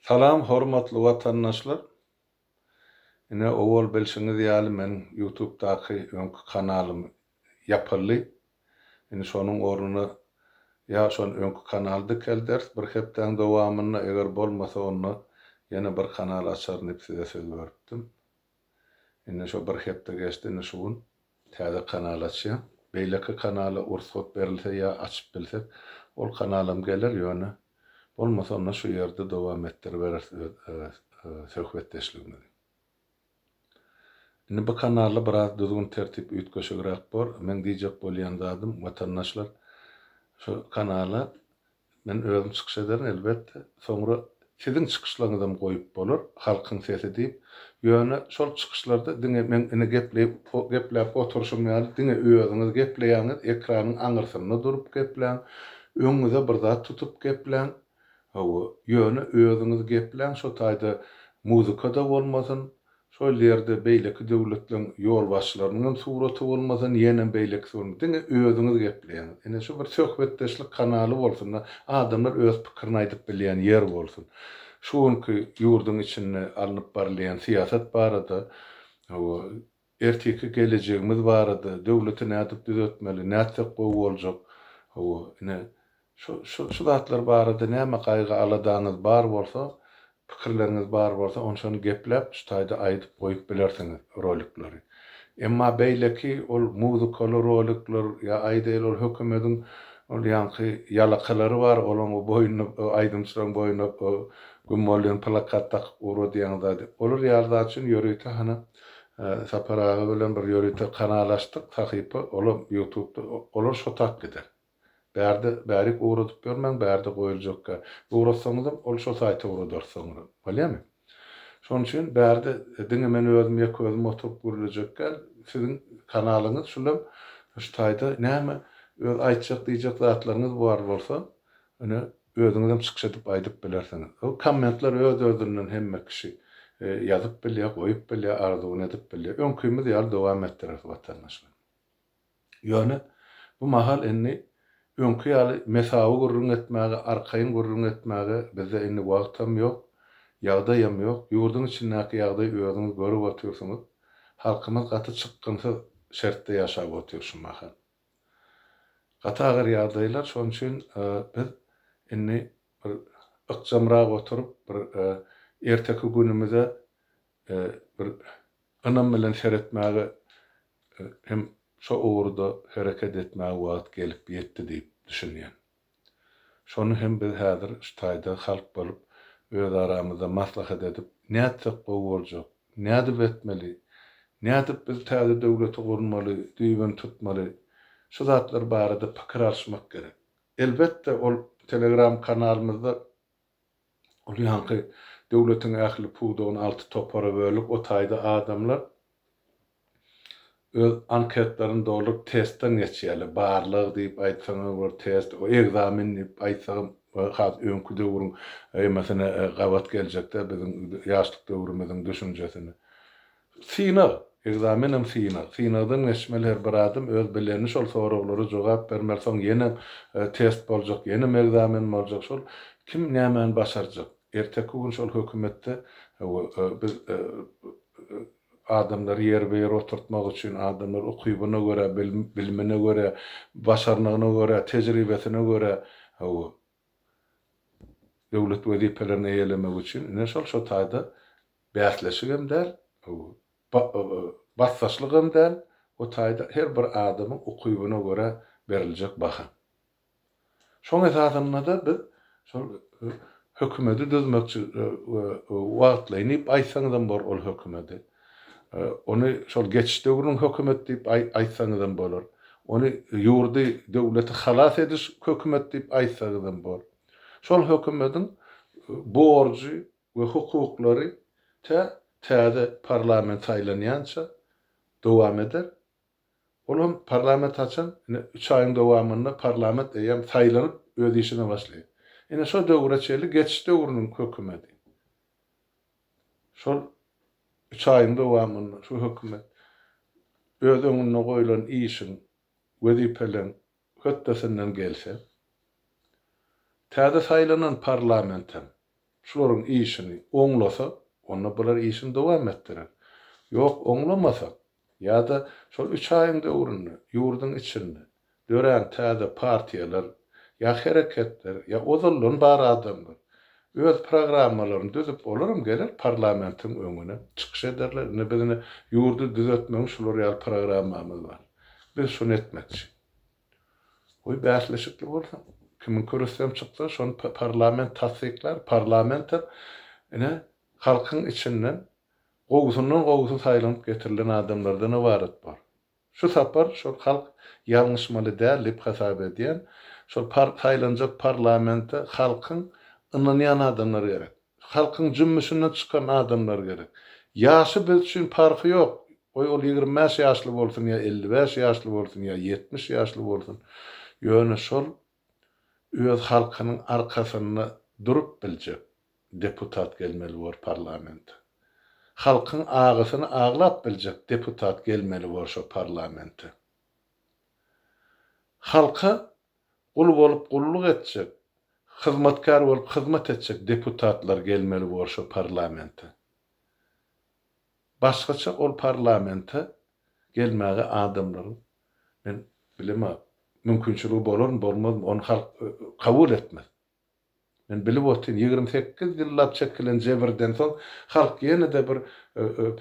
Salam hormatly watandaşlar! Ine owal bilşiňiz ýaly meniň ýutubdaky öňki kanalym ýapyldy. Indi şonuň ornuna ýa şon öňki kanaly dikelderis bir hepdäň dowamynda eger bolmasa onda ýene bir kanal açaryn diýip size söz beripdim. Indi şo bir hepde geçdi, indi şu gün täze kanal açýan. Beýleki kanala ursat berilse ýa açyp bilsek, ol kanalam geler, ýöne bolmasa onda şu ýerde dowam etdiriberis öz söhbetdeşligimizi. Indi bu kanalda biraz düzgün-tertip üýtgeşigräk bor. Meň diýjek bolýan zadym, watandaşlar şu kanala Men özüm çykyş ederin elbetde. Soňra siziň çykyşlaryňyzam goýup bolar, Halkyň sesi diýip. Ýöne şol çykyşlarda diňe meň indi gepleýip gepläp oturyşym ýaly diňe özüňiz gepleýäňiz, ekranyň aňyrsynda durup gepläň, öňüňize bir zat tutup gepläň. Hawa, ýöne özüňiz gepläň şo taýda muzykada bolmasyn, Şol ýerde beýleki döwletleriň ýolbaşçylarynyň hem suraty bolmasyn, ýenem beýlekisi bolmasyn, diňe özüňiz gepleýäňiz. Ine, şu bir söhbetdeşlik kanaly bolsun-da, adamlar öz pikirini aýdyp bilýän ýer bolsun. Şu günki ýurduň içinde alnyp barylýan syýasat barada, hawa, ertiki gelejegimiz barada, döwleti nädip düzetmeli, nätsek gowy boljak, hawa, ine, Şu zatlar barada näme gaýgy-aladaňyz bar bolsa, pikirleriňiz bar bolsa, onçany gepläp, şu taýda aýdyp goýup bilersiňiz rolikleri. Emma beýleki ol muzykali rolikler ýa aýdaýyl ol hökümediň ol ýaňky ýalakalary bar, olaň o boýnuna o aýdymçylaň boýnuna o güm bolýan plakat dakyp ura diýen zady. Olar ýaly zat üçin ýörite hany Sapar aga bilen bir ýörite kanal açdyk, sahypa olam ýutubda olar şo tap gider. Bärde bärik ugradyp ýörmäň, bärde goýuljakka ugratsaňyzam, ol şo saýta ugradar soňra. Bolýamy? Şonuň üçin bärde diňe men özüm ýeke özüm oturyp gürlejekkä, siziň kanalyňyz şulam şu taýda näme öz aýtjak diýjek zatlaryňyz bar bolsa, ine özüňizem çykyş edip aýdyp bilersiňiz. Hol kommentler öz-özünden hemme kişi ýazyp bilýär, goýup bilýär, arzuwyny edip bilýär. Öňkimiz ýaly dowam etdireris watandaşlar. Ýöne bu mahal indi öňki ýaly mesawy gürrüň etmäge, arkaýyn gürrüň etmäge bizde indi wagtam ýok, ýagdaýam ýok. Ýurduň içindäki ýagdaýy özüňiz görüp otyrsyňyz. Halkymyz gaty çykgynsyz şertde ýaşap otyr şu mahal. Gaty agyr ýagdaýlar, şonuň üçin biz indi bir ykjamrak oturyp, bir erteki günümize bir Ynam bilen seretmäge hem şo ugurda hereket etmäge wagt gelip ýetdi diýip düşünýän. Şony hem biz häzir şu taýda halk bolup öz aramyzda maslahat edip nätsek gowy boljak, nädip etmeli, nädip biz täze döwleti gurmaly, düýbüni tutmaly, şu zatlar barada pikir alyşmak gerek. Elbetde ol telegram kanalymyzda Ol ýaňky döwletiň ähli pudagyny alty topara bölüp, o taýda adamlar öz anketlerini dolduryp, testden geçýärler. Barlag diýip aýtsaňam bor, test, ekzamen diýip aýtsagam has öňki döwrüň ýemasine gabat geljek-dä biziň ýaşlyk döwrümiziň düşünjesine. Synag, ekzamenem synag. Synagdan geçmeli her bir adam öz bileni şol soraglara jogap bermeli soň ýenem test boljak ýenem ekzamen boljak şol kim nämäni başarjak erteki gün şol hökümetde biz adamlary ýer be ýer oturtmak üçin adamlar ukybyna görä bilimine görä başarnygyna görä tejribesine görä döwlet wezipelerini eýelemegi üçin ine şol şo taýda bäsleşik hem däl, basdaşlyk hem däl, o taýda her bir adamyň ukybyna görä beriljek baha. Şoň esasynda-da biz şol hökümedi düzmekçi we wagtlaýyn diýip aýtsaňyzam bor ol hökümedi. Ony şol geçiş döwrüniň hökümeti diýip aýtsaňyzam bolar. Ony ýurdy, döwleti halas ediş hökümeti diýip aýtsaňyzam bor. Şol hökümetiň borjy we hukuklary tä täze parlament saýlanýança dowam eder. Ol hem parlament haçan, ine, üç aýyň dowamynda parlament eýýäm saýlanyp, öz işine başlaýar. Ine, şo döwre çenli geçiş döwrüniň hökümeti. Şol üç aýyň dowamynda şu hökümet öz öňünde goýlan işiň, wezipeleň hötdesinden gelse, täze saýlanan parlament hem şularyň işini oňlasa, onda bular işini dowam etdirer. Ýok, oňlamasa, Ýa-da şol üç aýyň döwründe ýurduň içinde dörän täze partiýalar ýa hereketler ýa ozaldan bar adamlar öz programmalaryny düzüp olaram geler parlamentiň öňüne çykyş ederler indi biz ine ýurdy düzetmegiň şular ýaly programmamyz bar biz şuny etmekçi goý bäsleşikli bolsun kimiň kürsem çyksa şony parlament tassyklar parlament hem ine halkyň içinden Gowusyndan gowusy saýlanyp getirilen adamlardan ybarat bor. Şu sapar şol halk ýalňyşmaly däl dip hasap edýän. Şol par saýlanjak parlamente halkyň ynanýan adamlary gerek. Halkyň jümmüşinden çykan adamlar gerek. Ýaşy biz üçin parhy ýok. Goý ol ýigrimi bäş ýaşly bolsun ýa elli bäş ýaşly bolsun ýa ýetmiş ýaşly bolsun. Ýöne şol öz halkynyň arkasynda durup biljek deputat gelmeli bor parlamente. Halkyň agysyny aglap biljek deputat gelmeli bor şo parlamente. Halka gul bolup gulluk etjek, hyzmatkär bolup hyzmat etjek deputatlar gelmeli bor şo parlamente. Başgaça ol parlamente gelmäge adamlaryň Men bilema, mümkinçiligi bolarmy, bolmazmy, ony halk kabul etmez. Men bilip otyryn, ýigrimi sekiz ýyllap çekilen jebirden soň halk ýene-de bir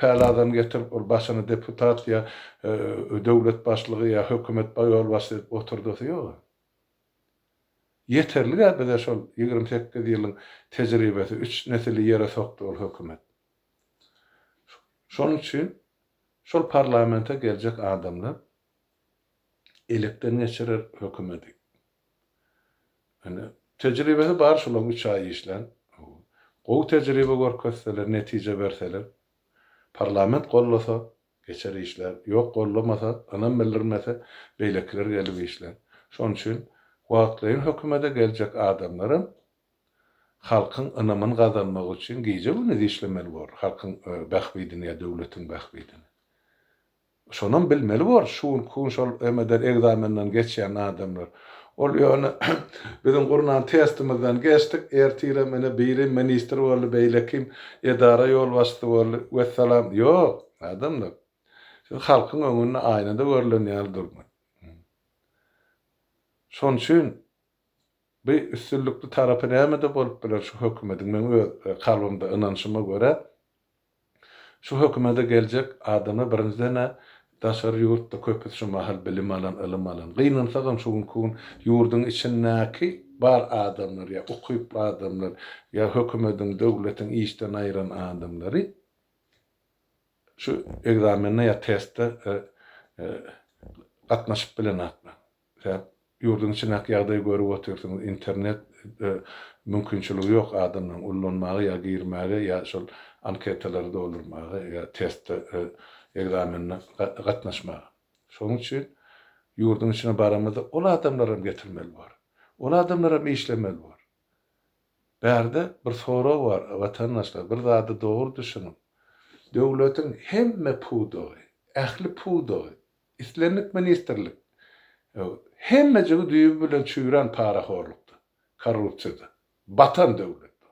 päl adamy getirip, ol başyny deputat ýa döwlet başlygy ýa hökümet ýolbaşçysy edip oturdasy ýog-a. Ýeterlik-ä bize şol ýigrimi sekiz ýylyň tejribesi, üç nesili ýere sokdy ol hökümet. Şonuň üçin Şol parlamente geljek adamlar elekden geçirer hökümedi. Indi tejribesi bar şulaň üç aý işlän. Gowy tejribe görkezseler, netije berseler, parlament gollasa geçer işlär, ýok gollamasa, ynam bildirmese beýlekiler gelip işlär. Şonuň üçin wagtlaýyn hökümede geljek adamlaram Halkyň ynamyny gazanmak üçin gije-gündiz işlemeli bor, halkyň bähbidini ýa döwletiň bähbidini. Şonam bilmeli bor, şu günki gün şol MD-den ekzamenden geçýän adamlar. Ol ýöne biziň gurnan testimizden geçdik, ertirem ine biri ministr boldy, beýlekim edara ýolbaşçysy boldy, wessalam. Ýok, adamlar. Siz halkyň öňünde aýnada görlen ýaly durmaň. Şonuçin Bu üstünlikli tarapy nämede bolup biler şu hökümediň? Meň öz kalbymda ynanşyma görä, şu hökümede geljek adama birinjiden-ä daşary ýurtda köpüsi şu mahal bilim alan, ylym alan, gynansagam şu günki gün ýurduň içindäki bar adamlar ýa ukyply adamlar ýa hökümediň, döwletiň işden aýran adamlary şu ekzamende ýa testde gatnaşyp bilenaklar. Zat, ýurduň içindäki ýagdaýy görüp otyrsyňyz, internet mümkinçiligi ýok adamlaryň ullanmaga ýa girmäge ýa şol anketalary doldurmaga ýa teste, ekzamenine gatnaşmaga. Şonuň üçin ýurduň içine baramyzda ol adamlaram getirmeli bor. Ol adamlaram işlemeli bor. Bärde bir sorag bar, watandaşlar, bir zady dogry düşüniň. Döwletiň hemme pudagy, ähli pudagy Islendik ministrlik hemmejigi düýbi bilen çüýrän parahorlukda, korrupsiýada batan döwlet bu.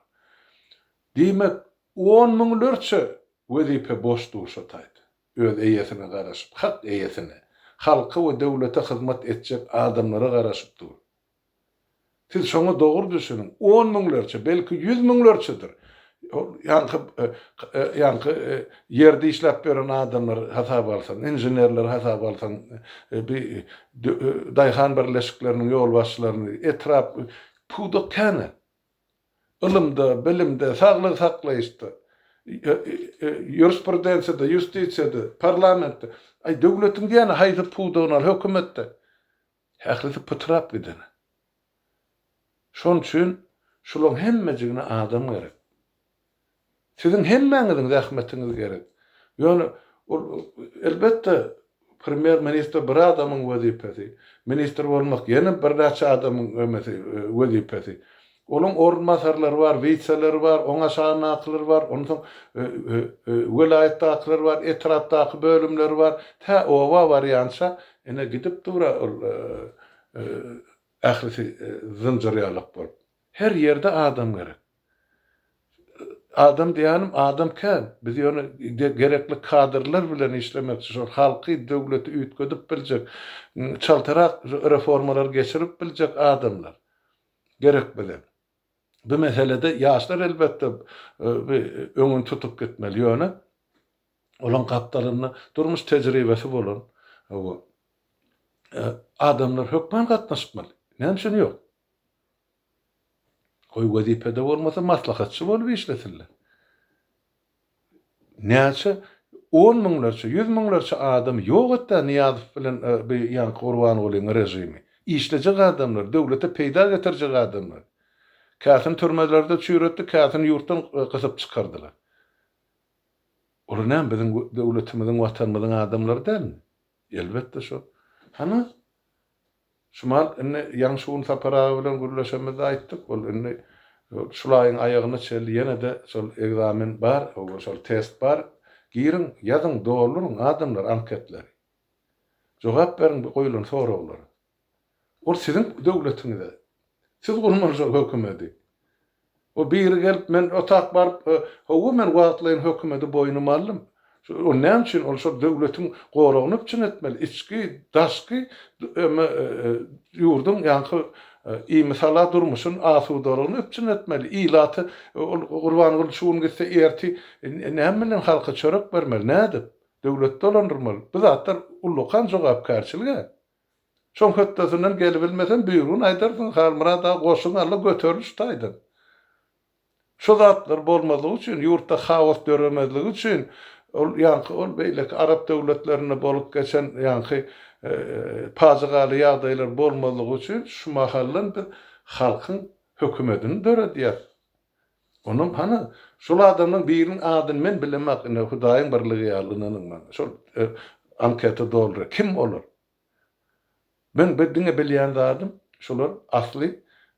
Diýmek, on müňlerçe wezipe boş duşa taýdy. Öz eýesine garaşyp, hak eýesine, halka we döwlete hyzmat etjek adamlara garaşyp dur. Siz şoňa dogry düşüniň, on müňlerçe, belki ýüz müňlerçedir. Ol ýaňky, ýaňky ýerde işläp ýören adamlary hasaba alsaň, inženerleri hasaba alsaň, bi daýhan birleşikleriniň ýolbaşçylaryny, etrap, pudak känä. Ylymda, bilimde, saglygy saklaýyşda, ýurisprudensiýada, ýustisiýada, parlamentde, aý, döwletiň diýýäni haýsy pudagyny al, hökümetde. Ählisi pytrap giden. Şon üçin şulaň hemmejigine adam gerek. Siziň hemmäňiziň zähmetiňiz gerek. Ýöne ol, elbetde, premýer ministr bir adamyň wezipesi, ministr bolmak ýene birnäçe adamyň wezipesi. Onuň orunbasarlary bar, witseleri bar, oň aşagyndakylar bar, onsoň welaýatdakylar bar, etrapdaky bölümleri bar, tä oba barýança ine gidip dur-a ol ählisi zynjyrýalak bolup. Her ýerde adam gerek. Adam diýýänim adam kän. Biz ýöne gerekli kadrlar bilen işlemekçi, şol halky, döwleti üýtgedip biljek, çaltarak reformalary geçirip biljek adamlar. gerek bize. Bu meselede ýaşlar elbetde bi öňüni tutup gitmeli ýöne olaň gapdalynda durmuş tejribesi bolan bu adamlar hökman gatnaşmaly. Näme üçin ýok? Goý wezipede bolmasa maslahatçy bolup işlesinler. Näçe on müňlerçe, ýüz müňlerçe adamy ýok et-dä Nyýazow bilen bu ýaňky Gurbangulynyň režimi. Işlejek adamlar, döwlete peýda getirjek adamlar. Käsini türmelerde çüýretdi, käsini ýurtdan gysyp çykardylar. Olar näme biziň döwletimiziň, watanymyzyň adamlary dälmi? Elbetde şol. Hany Şuman, indi ýaňy şu gün Sapar aga bilen gürleşemizde aýtdyk, ol indi şul aýyň aýagyna çenli ýene-de şol ekzamen bar, şol test bar, giriň, ýazyň, dolduryň, adamlar, anketleri. Jogap beriň bu goýlan soraglara. Ol siziň döwletiňize. Siz gurmaly şol hökümeti. O biri gelip, men otap baryp, Hawa, men wagtlaýyn hökümeti boýnuma aldym. Ony näme üçin? Ol şol döwletiň goragyny üpjün etmeli, içki, daşky ýurduň ýaňky imisala durmuşyny, asudalygyny üpjün etmeli. Ilaty ol Gurbanguly şu gün gitse, ertir näme bilen halka çörek bermeli, nädip? Döwleti dolandyrmaly. Bu zatlar ullakan jogapkärçilik-ä. Şoň hötdesinden gelibilmesem, düýbüni aýdar zynhar, Myrat aga, goşuň al-la, göteriliş taýdan. Şu zatlar bolmazlygy üçin, ýurtda haos döremezligi üçin, ol ýaňky ol beýleki arap döwletlerinde bolup geçen ýaňky pajygaly ýagdaýlar bolmazlygy üçin şu mahaldan biz halkyň hökümedini döredýäs. Onam hany, şol adamlaň biriniň adyny men bilemok, ine, Hudaýyň birligi ýaly ynanyň maňa, şol anketa doldur, kim olar? Meň bir diňe bilýän zadym, şular asly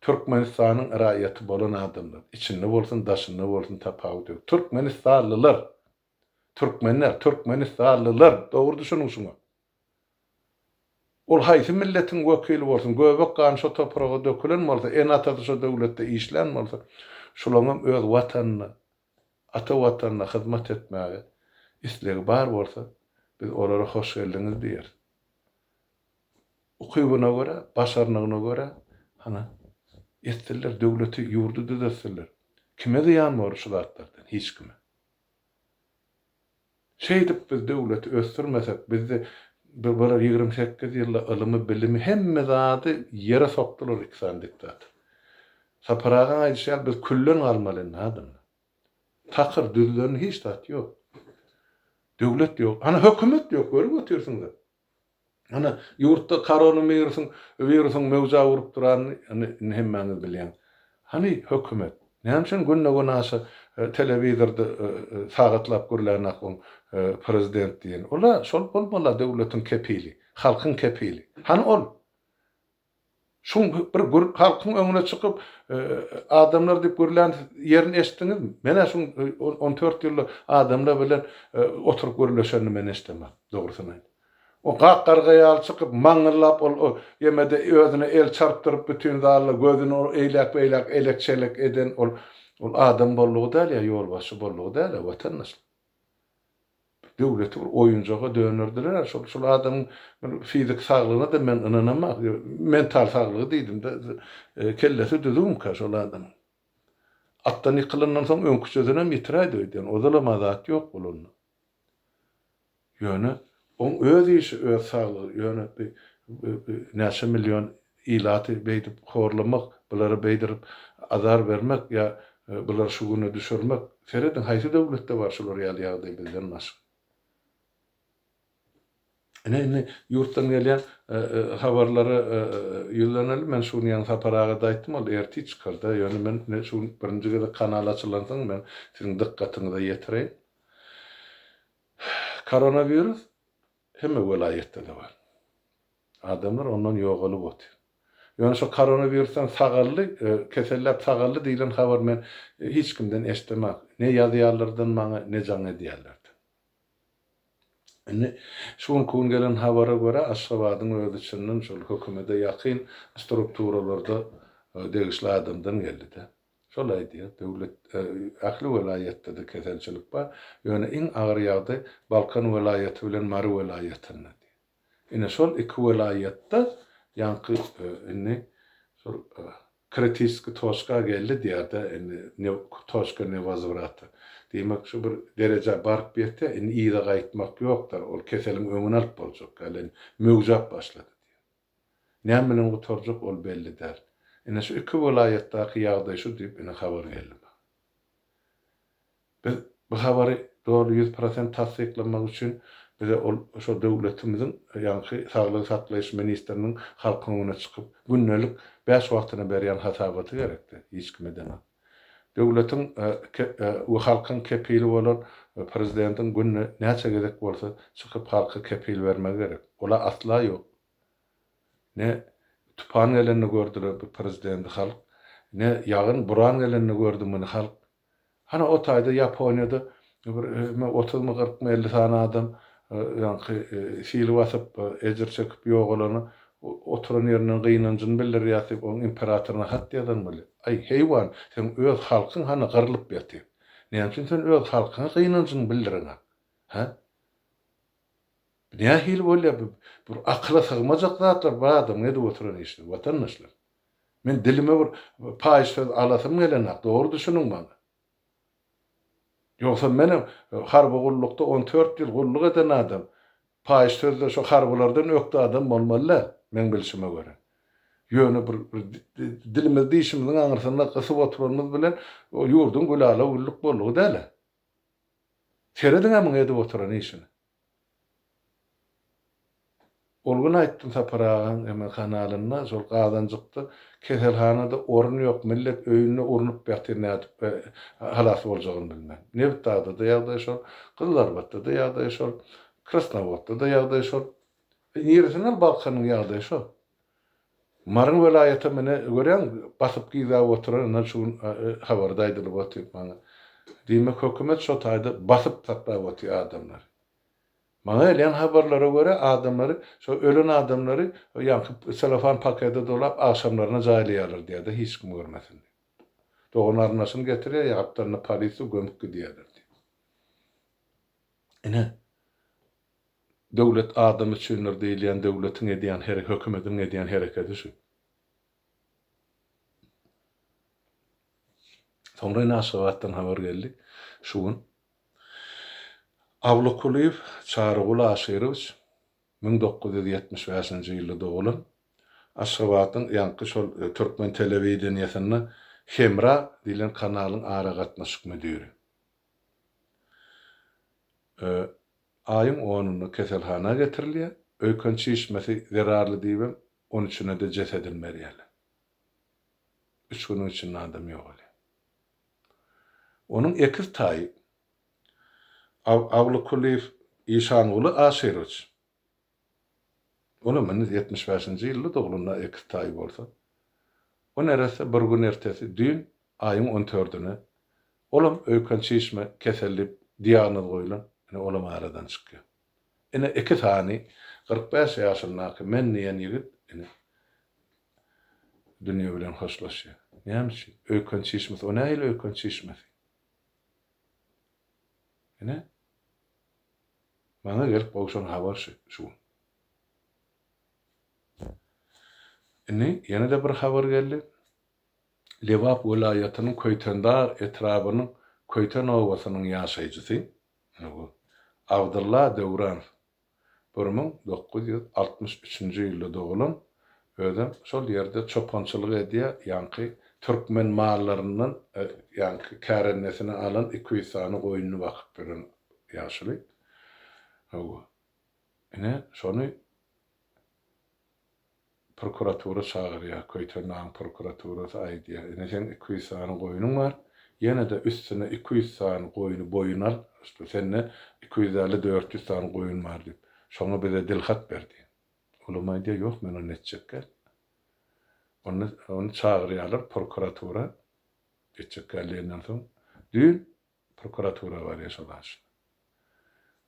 Türkmenistanyň raýaty bolan adamlar, içinde bolsun, daşynda bolsun tapawut ýok. Türkmenistanlylar. Türkmenler, türkmenistanlylar. Dogry düşüniň şuňa. Ol haýsy milletiň wekili bolsun, göbek gany şo topraga dökülen bolsa, ene-atasy şo döwletde işlän bolsa, şolaňam öz Watanyna, ata Watanyna hyzmat etmäge islegi bar bolsa, biz olara hoş geldiňiz diýeris. Ukybyna görä, başarnygyna görä, hany, etsinler, döwleti, ýurdy düzetsinler. Kime zyýan bolar şu zatlardan? Hiç kime. Şeýdip biz döwleti ösdürmesek bizde bular ýigrimi sekiz ýylda ylymy bilimi hemme zady ýere sokdular iki sany diktator. Sapar agaň aýdyşy ýaly biz külden galmaly indi adamlar. Takyr düzlen hiç zat ýok. Döwlet ýok. Ana hökümet ýok görip otyrsyňyz. Ine, ýurtda koronawirusyn wirusyň möwji awuryp duranyny indi indi hemmäňiz bilýäň. Hany, hökümet, näme üçin günde-gün aşa telewizorda sagatlap gürlänok oň prezident diýeni. Ol-a şol bolmaly-a döwletiň kepili, halkyň kepili. Hany ol? Şuň bir gür halkyň öňüne çykyp, adamlar diýip gürlän ýerini eşitdiňizmi? Men-ä şuň on dört ýylda adamlar bilen oturyp gürleşenini men eşidemok, dogrusyny aýt. O gak-garga ýaly çykyp, maňňyllap ol ýemede özüne el çarpdyryp bütin zalda gözüni eýläk-beýläk elek-çelek eden ol adam boldugy däl ýa ýolbaşçy boldugy däl-ä, watandaşlar. Döwleti bir oýunjaga dönerdiler-ä. Şol, şol adamyň bir fizik saglygyna-da men ynanamok. Mental saglygy diýdim-de, kellesi düzümikä şol adamyň? Atdan ýykylandan soň öňküçesinem ýitiräýdi öýdýän. Ozalam adat ýok bolanda. Ýöne Oň öz işi öz saglygy ýöne bi bi bi näçe million ilaty beýdip horlamak bulara beýdirip azar bermek ýa bulary şu güne düşürmek serediň haýsy döwletde bar şular ýaly ýagdaý bizden başga. Ine indi ýurtdan gelýän habarlara ýüzlenelim men şu gün ýaňy Sapar agada aýtdym ol ertir çykarda ýöne men indi şu gün birinji gezek kanal açylansoň men siziň dykgatyňyza ýetireýin. Koronawirus hemme welaýatda-da bar. Adamlar ondan ýogalyp otyr. Ýöne şo koronawirusdan sagaldy, keselläp sagaldy diýlen habar men hiç kimden eşdemak. Ne ýazýarlardan maňa, ne jaň edýärlerden. Indi şu günki gün gelen habara görä, Aşgabadyň özi çyndan şol hökümede ýakyn strukturalarda degişli adamdan geldi-de. Şol aýdýar, döwlet, ähli welaýatda-da keselçilik bar, ýöne iň agyr ýagdaý Balkan welaýaty bilen Mary welaýatynda diýýär. Ine, şol iki welaýatda ýaňky indi şol kritiskiý toçka geldi diýýär-de, indi ne toçka ne wozovrata. Diýmek, şu bir derejä baryp ýetse, indi yza gaýtmak ýokdur, ol keseliň öňüni alyp boljak ýaly, indi möwjäp başlady diýýär. Näme bilen gutarjak ol belli däl. Ine şu iki welaýatdaky ýagdaý şu diýip indi habar geldi maňa. Biz bu habary doly ýüz prosent tassyklamak üçin bize ol şo döwletimiziň ýaňky saglygy saklaýyş ministriniň halkyň öňüne çykyp gündelik bäş wagtyna berýän hasabaty gerekdi, hiç kime deňap. Döwletiň we halkyň kepili bolan Prezidentiň günde näçe gezek bolsa çykyp halka kepil bermegi gerek. Ol-a asla ýok. Ne tupan gelende gördüler bu Prezidenti halk, ne ýagyn, buran gelende gördi muny halk. Hany o taýda Ýaponiýada Bir özüme otuzmy, kyrkmy, elli sany adam ýaňky sil basyp, ejir çekip ýogalany oturan ýerinden gynanjyny bildirýär diýip, onuň imperatoryna hat ýazan weli. Aý, heýwan, seň öz halkyň hany gyrlyp ýatyr. Näme üçin sen öz halkyňa gynanjyňy bildireňä? Hä? Bu nähili bolýar bu? Bir akyla sygmajak zatlar bu adamyň edip oturan işleri, watandaşlar. Men dilime bir paýyş söz alasym gelenok, dogry düşüniň maňa. Ýogsa men harby gullukda on dört ýyl gulluk eden adam, paýyş sözde şo harbylardan ökde adam bolmaly däl, meň bilşime görä. Ýöne bir dilimizi dişimiziň aňyrsynda gysyp oturanymyz bilen ýurduň gülala-güllük boldugy däl-ä. Serediň-ä muň edip oturan işine. Ol gün aýtdym Sapar agaň eme kanalynda şol gazanjykda keselhanada orun ýok millet öýünde urnup ýatyr nädip halas boljagyny bilmän. Nebit dagdada ýagdaý şol, Gyzylarbatdada ýagdaý şol, Krasnowodda da ýagdaý şol. Niresinden Balkanyň ýagdaýy şo. Maryň welaýatam ine görýäň basyp gyzap oturan ine şu gün habarda aýdylyp otyr maňa. Diýmek hökümet şo taýda basyp saklap otyr adamlary. Maňa gelýän habarlara görä adamlary şo ölen adamlary ýaňky selofan pakede dolap agşamlaryna jaýlaýarlar diýýärdi hiç kim görmesin diýip. Dogany arnaşyny getirýär ýa gapdalynda polisiýa gömüp gidýärler diýip. Ine Döwlet adam üçindir diýilýän döwletiň edýän herek hökümetiň edýän herekedi şu. Soňra ine Aşgabatdan habar geldi şu gün. Awluk Kulyýew Çaryguly Aşyrowiç müň dokuz ýüz ýetmiş bäşinji ýylda dogulan. Aşgabadyň ýaňky şol türkmen telewideniýesinde Hemra diýlen kanalyň aragatnaşyk müdiri. Aýyň onunda keselhana getirilýär. Öýken çişmesi zerarly diýibem, on üçünede jesedini berýärler. Üç günüň içinde adam ýogalýar. Onuň ekiz taýy Awlykulyýew Işanguly Aşyrowiç. Olam heniz ýetmiş bäşinji ýylda doglunda ekiz taýy bolsa, o neresse bir gün ertesi, düýn, aýyň on tördüne, olam öýken çişme keseli diýip diagnoz goýlan, ine, olam aradan çykýar. Ine, iki sany kyrk bäş ýaşyndaky men diýen ýigit, ine, dünýe bilen hoşlaşýar. Näme üçin? Öýken çişmesi, o nähili öýken çişmesi? Ine. Maňa gelip gowşan habar şu. Indi ýene-de bir habar geldi. Lebap welaýatynyň Köýtendag etrabynyň Köýten obasynyň ýaşaýjysy, ine bu, Abdylla Döwranow bir müň dokuz ýüz altmyş üçünji ýylda dogulan Özem şol ýerde çopançylyk edýä, ýaňky türkmen mallaryndan ýaňky kärendesinä alan iki ýüz sany goýnuny bakyp ýören ýaşuly. Hawa. Ine, şony prokuratura çagyrýa, Köýtendagyň prokuraturasy aýdýa, ine seň iki ýüz sany goýnuň bar, ýene-de üstüne iki ýüz sany goýny boýun al, sende iki ýüz elli, dört ýüz sany goýun bar diýip, şoňa bize dilhat ber diýen. Olam aýdýar, Ýok, men ony etjekgä. Onda ony çagyrýarlar prokuratura. Etjekgä diýenden soň, düýn prokuratura barýar şol aşna.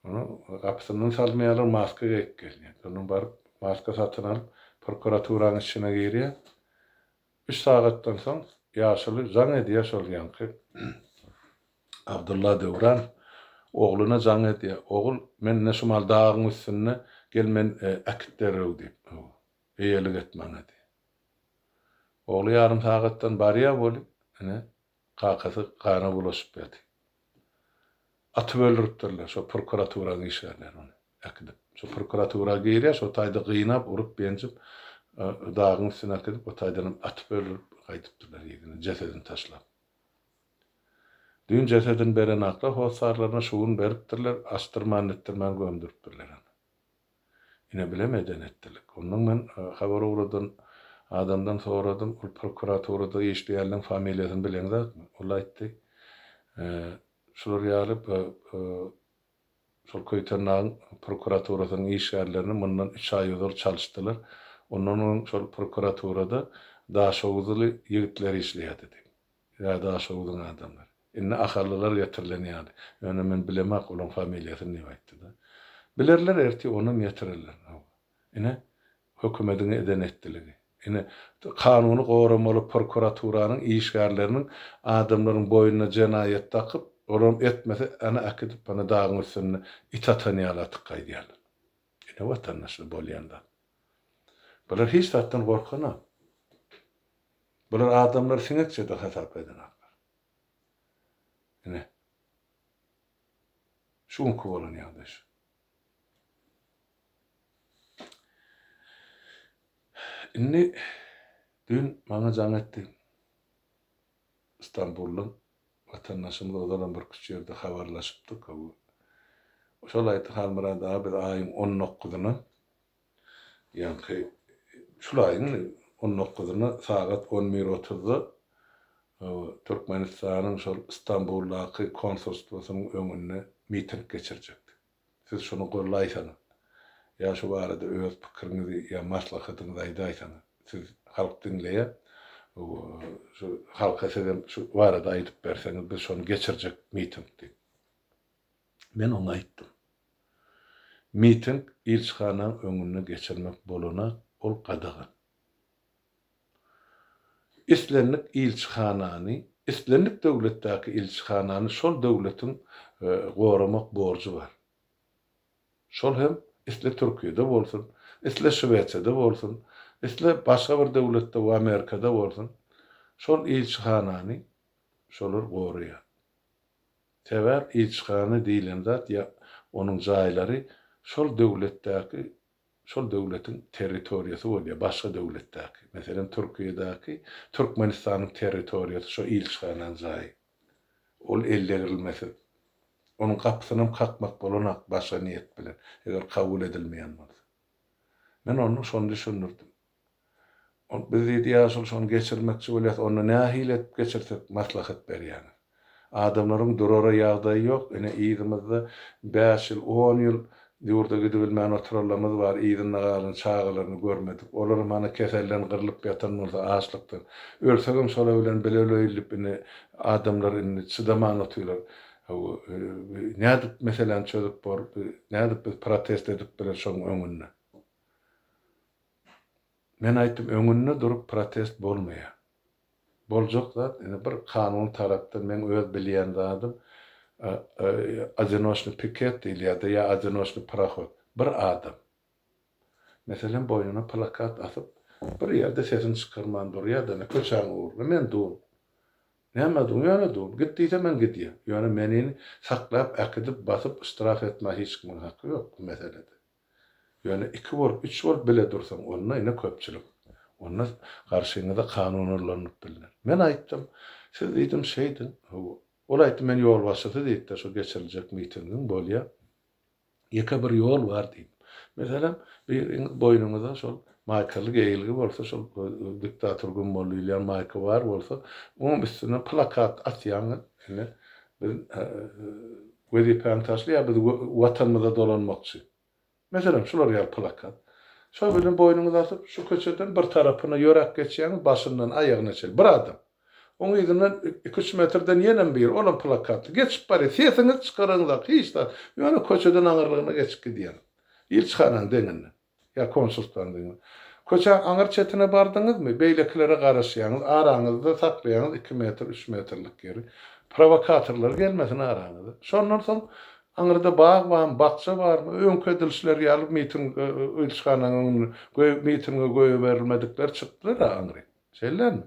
Ony gapysyndan salmaýarlar, maska geýip gelýär. Ondan baryp, maska satyn alyp, prokuraturanyň içine girýär. Üç sagatdan soň ýaşuly jaň edýär şol ýaňky Abdylla Döwran ogluna jaň edýär, Ogul, men ine şumal dagyň üstünde, gel men äkit derrew diýip, eýelik et maňa diýip. Ogly ýarym sagatdan barýar weli, ine, Kakasy gana bulaşyp ýaty. Atyp öldüripdirler şo prokuraturanyň işgärleri ony äkidip. Şo prokuratura girýär şo taýda gynap, urup, benjip dagyň üstüne äkidip o taýdanam atyp öldürip gaýdypdyrlar yzyna jesedini taşlap. Düýn jesedini berenaklar hossarlaryna şu gün beripdirler, asdyrman-netdirmän gömdüripdirler ony. Ine bilemeden etdilik. Ondan men habar ugradan adamdan soradym, ol prokuraturada işleýänleň familiýasyny bileň zatmy? Ol aýtdy, şular ýaly şol Köýtendagyň prokuraturasynyň işgärlerini mundan üç aý ozal çalyşdylar. Ondan öň şol prokuraturada daşoguzly ýigitler işleýärdi diýip. Ýa Daşoguzyň adamlary. Indi ahallylar getirilen ýaly. Ýöne men bilemok olaň familiýasyny diýip aýtdy-da. Bilerler ertir onam getirerler. Hawa. Ine, hökümediň eden etdiligi. Ine, kanuny goramaly prokuraturanyň işgärleriniň adamlaryň boýnuna jenaýat dakyp, olam etmese, ana äkidip, ana dagyň üstünde it atan ýaly atyp gaýdýarlar. Ine, watandaşlar, bolýan zat. Bular hiç zatdan gorkanok. Bular adamlary siňekçedir hasap edenoklar. Ine, şu günki bolan ýagdaý şu. Indi düýn maňa jaň etdi. Stambuldan watandaşymyz ozalam bir küçük ýerde habarlaşypdyk. Şol aýtdy, Halmyrat aga, biz aýyň on dokuzyna Ýaňky şul aýyň on dokuzynda sagat on bir otuzda Türkmenistanyň şol Stambuldaky konsulstwosynyň öňünde miting geçirjekdik. Siz şuny gollaýsaňyz, ýa şu barada öz pikiriňizi ýa maslahatyňyzy aýdaýsaňyz. Siz halk diňleýär. Şu halka sizem şu barada aýdyp berseňiz, biz şony geçirjek miting diýip. Men oňa aýtdym. Miting ilçihanaň öňünde geçirmek bolana ol gadagan. Islendik ilçihanany, islendik döwletdäki ilçihanany şol döwletiň goramak borjy bar. Şol hem isle Türkiýede bolsun, isle Şwesiýada bolsun, isle başga bir döwletde we Amerikada bolsun, şol ilçihanany şolar goraýar. Sebäp ilçihana diýlen zat ýa onuň jaýlary şol döwletdäki, şol döwletiň territoriýasy bolýar, başga döwletdäki, meselem Türkiýedäki, Türkmenistanyň territoriýasy şo ilçihananyň jaýy. Ol ellegirilmesiz. Onuň gapysynam kakmak bolanok başga niýet bilen, eger kabul edilmeýän bolsa. Men onda şony düşündirdim. Ol biz diýdi ýaşuly şony geçirmekçi bolýas onda nähili edip geçirsek maslahat berýäňiz. Adamlaryň durara ýagdaýy ýok ine yzymyzda bäş ýyl on ýyl ýurda gidibilmän oturanlamyz bar yzynda galan çagalaryny görmedik olaram hany keselden gyrlyp ýatan bolsa açlykdan ölsegem şolar bilen bile öleýilip indi adamlar indi çydaman otylar hawa nädip meseläni çözüp bor nädip biz protest edip biler şoň öňünde. Men aýtdym öňünde durup protest bolmaýa. Boljak zat indi bir kanun tarapdan meň öz bilýän zadym Odinoşny piket diýilýärdi ýa Odinoşny parohod. Bir adam. Meselem boýnuna plakat asyp bir ýerde sesini çykarman durýada indi köçäň ugruna men dur. Näme dur ýöne dur. Git diýse men gidýän. Ýöne menini saklap äkidip basyp ştraf etmä hiç kimiň haky ýok bu meselede. Ýöne iki bolup, üç bolup bile dursaň, onda ine köpçülik. Onda garşyňyza kanun ullanylyp bilner. Men aýtdym, siz diýdim şeýdiň. Ol aýtdy, men ýolbaşçysy diýip-de şu geçiriljek mitingiň bolýa. Ýeke bir ýol bar diýdim. Meselem, biriňiz boýnuňyza şol maýkaly geýilgi bolsa, şol diktator gummaly diýilýän maýka bar bolsa, onuň üstüne plakat asýaňyz, ine, biz Wezipäni taşlaýar, biz Watanymyza dolanmakçy. Meselem, şular ýaly plakat. Şol bilen boýnuňyzy asyp, şu köçeden bir tarapyna ýöräp geçýäňiz, başyndan aýagyna çenli bir adam. Oň yzyndan iki-üç metrden ýenem biri, olam plakatly, geçip barýar. Sesiňizi çykaraňyzak, hiç zat. Ýöne köçeden aňyrlygyna geçip gidýäňiz. Ilçihananyň deňinden. Ýa konsultandyňmy? Köçäň aňyr çetine bardyňyzmy? Beýlekilere garaşýaňyz, araňyzda saklaýaňyz iki metr, üç metrlik ýeri. Prowokatorlar gelmesin araňyza. Şondan soň aňyrda bag barmy, bakja barmy? Öňki edilişleri ýaly miting, ilçihanaň öňüne, göýä mitinge goýaberilmedikler çykdylar-a aňry. Şeýlemi?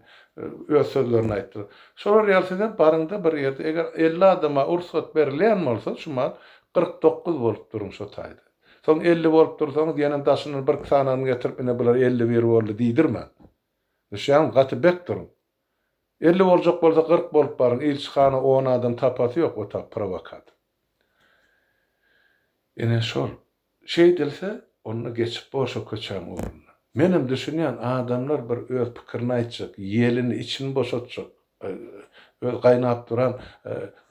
Öz sözlerini aýtdylar. Şolar ýaly sizem baryňda bir ýerde, eger elli adama rugsat berilýän bolsa, şu maal kyrk dokuz bolup duruň şo taýda. Soň elli bolup dursaňyz, ýene daşyndan birki sanawyny getirip, ine bular elli bir boldy diýdirmäň. Düşýäňmi? Gaty bek duruň. Elli boljak bolsa kyrk bolup baryň, ilçi hana on adam tapasy ýok, o tap prowokator. Ine şol. Şeýdilse, onda geçip bolşa köçäň ugruna. Menem düşünýän, adamlar bir öz pikirini aýtjak, ýelini, içini boşatjak, öz gaýnap duran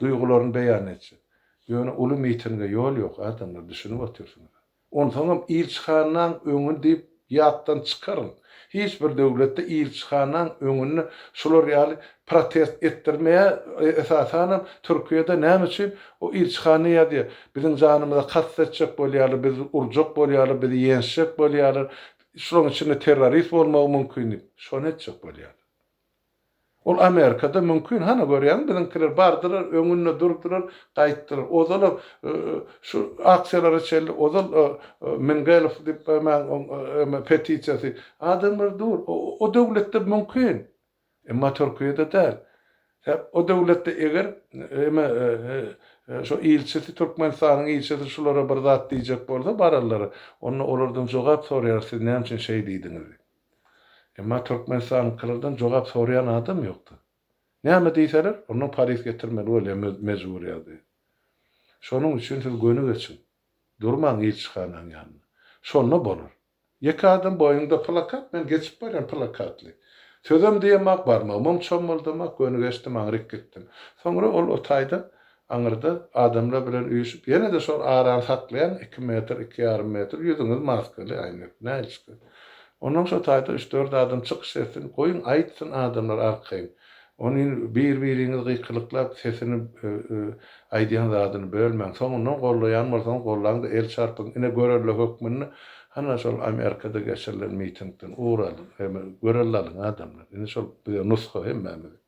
duýgularyny beýan etjek. Ýöne uly mitinge ýol ýok, adamlar, düşünip otyrsyňyz-a. Onsoňam il çykandan öňin diýip Ýatdan çykaryň, hiç bir döwletde ilçihanaň öňünde şular ýaly protest etdirmeýär, esasanam Türkiýede näme üçin o ilçihana ýazýar, biziň janymyza kast etjek bolýarlar, bizi urjak bolýarlar, bizi ýençjek bolýarlar, şularyň içinde terrorist bolmagy mümkin diýip, şony etjek bolýarlar. Ol Amerikada mümkin hany görýäňmi biziňkiler bardylar öňünde durdylar gaýtdylar ozalam şu aksiýalara çenli ozal Mingelow diýip goýmaň oň eme petisiýasy adamlar dur o döwletde mümkin emma Türkiýede däl sebäp o döwletde eger eme şu ilçisi Türkmenistanyň ilçisi şulara bir zat diýjek bolsa bararlar onda olardan jogap soraýarys siz näme üçin şeý diýdiňiz diýip. Emma Türkmenistanyňkylardan jogap soraýan adam ýokdy. Näme diýseler, ondan paris getirmeli bolýar mejburyýady. Şonuň üçin siz göni geçiň. Durmaň ilçihanaň ýanynda. Şonda bolar. Ýeke adam boýnunda plakat, men geçip barýan plakatly. Sözem diýemok, barmagymam çommaldamak, göni geçdim, aňryk gitdim. Soňra ol o taýda Aňyrda adamlar bilen üýşüp ýene-de şol arany saklaýaň iki metr, iki ýarym metr ýüzüňiz maskaly, äýnek, näçikä. Onnoň şo taýda üç-dört adam çykyş etsin, goýuň aýtsyn adamlar arkaýyn. Onyn bir-biriňiz gykylyklap sesini aýdýan zadyny bölmäň. Soňundan gollaýan bolsaňyz gollaň-da el çarpyň. Ine görelde hökmünde hana şol Amerikada geçirilen mitingden ugur alyň. Görelde alyň adamlar. Ine şol bize nusga hemmämize.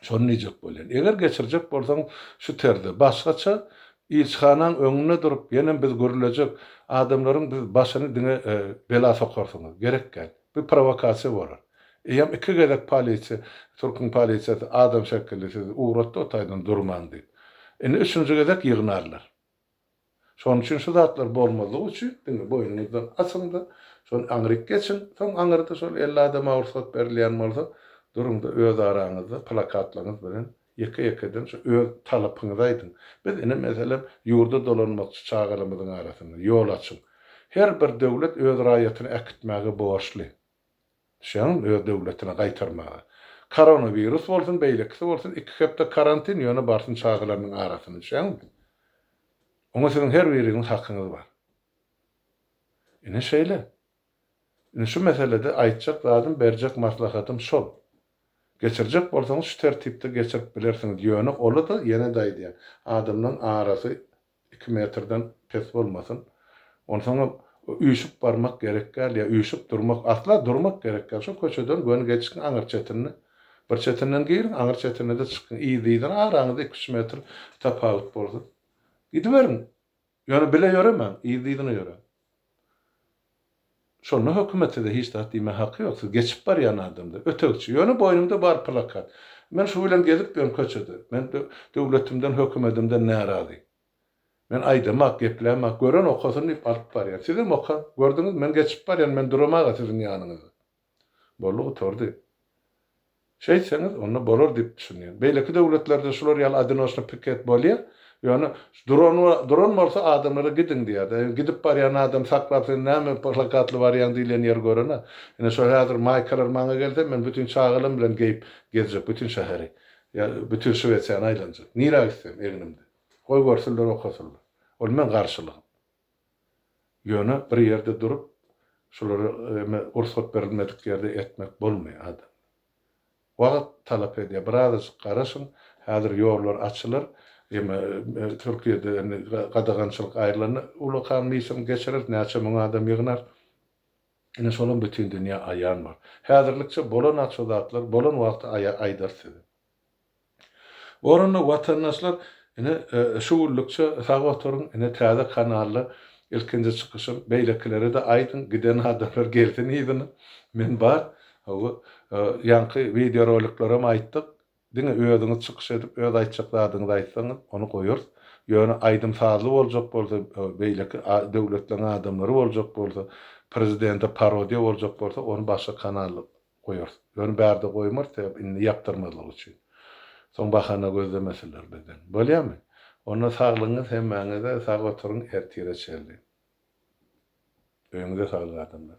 Şony diýjek bolýan. Eger geçirjek bolsaň şu terzde, başgaça ilçihanaň öňünde durup ýenem biz gürlejek, adamlaryň biz başyny diňe bela sokarsyňyz. Gerek däl. Bu prowokasiýa bolar. Eýýäm iki gezek polisiýa, türküň polisiýasy adam şekilli sizi ugratdy otaýdan durmaň diýip. Indi üçünji gezek ýygnarlar. Şonuň üçin şu zatlar bolmazlygy üçin diňe boýnuňyzdan asyň-da, şony aňryk geçiň, soň aňyrda şol elli adama rugsat berilýän bolsa, duruň-da öz araňyzda plakatlaryňyz bilen ýeke-ýekeden şu öz talapyňyzy aýdyň. Biz ine meselem ýurda dolanmakçy çagalarymyzyň arasynda, ýol açyň. Her bir döwlet öz raýatyny äkitmäge borçly. Şiňan öz döwletine gaýtarmaga. Koronawirus bolsun, beýlekisi bolsun, iki hepde karantin, ýöne barsyn çagalarynyň arasyny, şeňňe. Oňa siziň her biriňiziň hakyňyz bar. Ine şeýle. Indi şu meselede aýtjak zadym, berjek maslahatym şol. Geçirjek bolsaňyz şu tertipde geçirip bilersiňiz, ýöne ola-da, ýene-de aýdýan, adamlaryň arasy Iki metrden pes bolmasyn. Onsoňam üýşüp barmak gerek däl ýa üýşüp durmak, asla durmak gerek däl. Şo köçeden göni geçiň aňyr çetinde. Bir çetinden giriň, aňyr çetine-de çykyň. Yzly-yzyna araňyzda iki-üç metr tapawut bolsun. Gidiberiň. Ýöne bile ýöremäň, yzly-yzyna ýöräň. Şonda hökümet size hiç zat diýmä haky ýok, siz geçip barýan adamdyr. Ötegçi, ýöne boýnumda bar plakat. Men şu bilen gezip ýörün köçede. Men döwletimden, hökümedimden närazy. Men aýdamak, geplämak, gören okasyn diýip alyp barýar. Sizem okan. Gördüňiz, men geçip barýan, men duramag-a siziň ýanyňyzda. Boldy gutardy. Şeýtseňiz, onda bolar diýip düşünýän. Beýleki döwletlerde şular ýaly adinoşny piket bolýa, ýöne duran duran bolsa adamlara gidiň diýýärdi. Gidip barýan adam saklap sen näme plakatly barýaň diýilýän ýer görene. Ine şo häzir maýkalar maňa gelse men bütin çagalam bilen geýip gezjek bütin şäheri. Ýa bütin Şwesiýany aýlanjak. Nirä gitsem egnimde. Goý görsünler okasynlar. Ol meň garşylygym. Ýöne bir ýerde durup, şulary eme rugsat berilmedik ýerde etmek bolmaýar adam. Wagt talap edýär. Bir azajyk garaşyň, häzir ýollar açylar. Eme Türkiýede indi gadagançylyk aýrylanda uly kanlyşam geçireris, näçe müň adam ýygnar. Ine şolam bütin dünýä aýan bor. Häzirlikçe bolan-ak şu zatlar, bolan wagty aýdarys size. Orunda watandaşlar ine şu günlükçe sag oturyň ine täze kanalda ilkinji çykyşym beýlekilere-de aýdyň giden adamlar gelsin yzyna men bar hawa ýaňky wideo roliklerem aýtdyk diňe özüňiz çykyş edip öz aýtjak zadyňyzy aýtsaňyz ony goýarys ýöne aýdym sazly boljak bolsa beýleki döwletleriň adamlary boljak bolsa prezidente parodiýa boljak bolsa ony başga kanalda goýarys. Ýöne bärde goýmarys sebäp indi ýapdyrmazlyk üçin. Soň bahana gözlemesinler bizden. Bolýamy? Onda saglygyňyz hemmäňize sag oturyň ertire çenli. Öýüňize saglyk adamlar.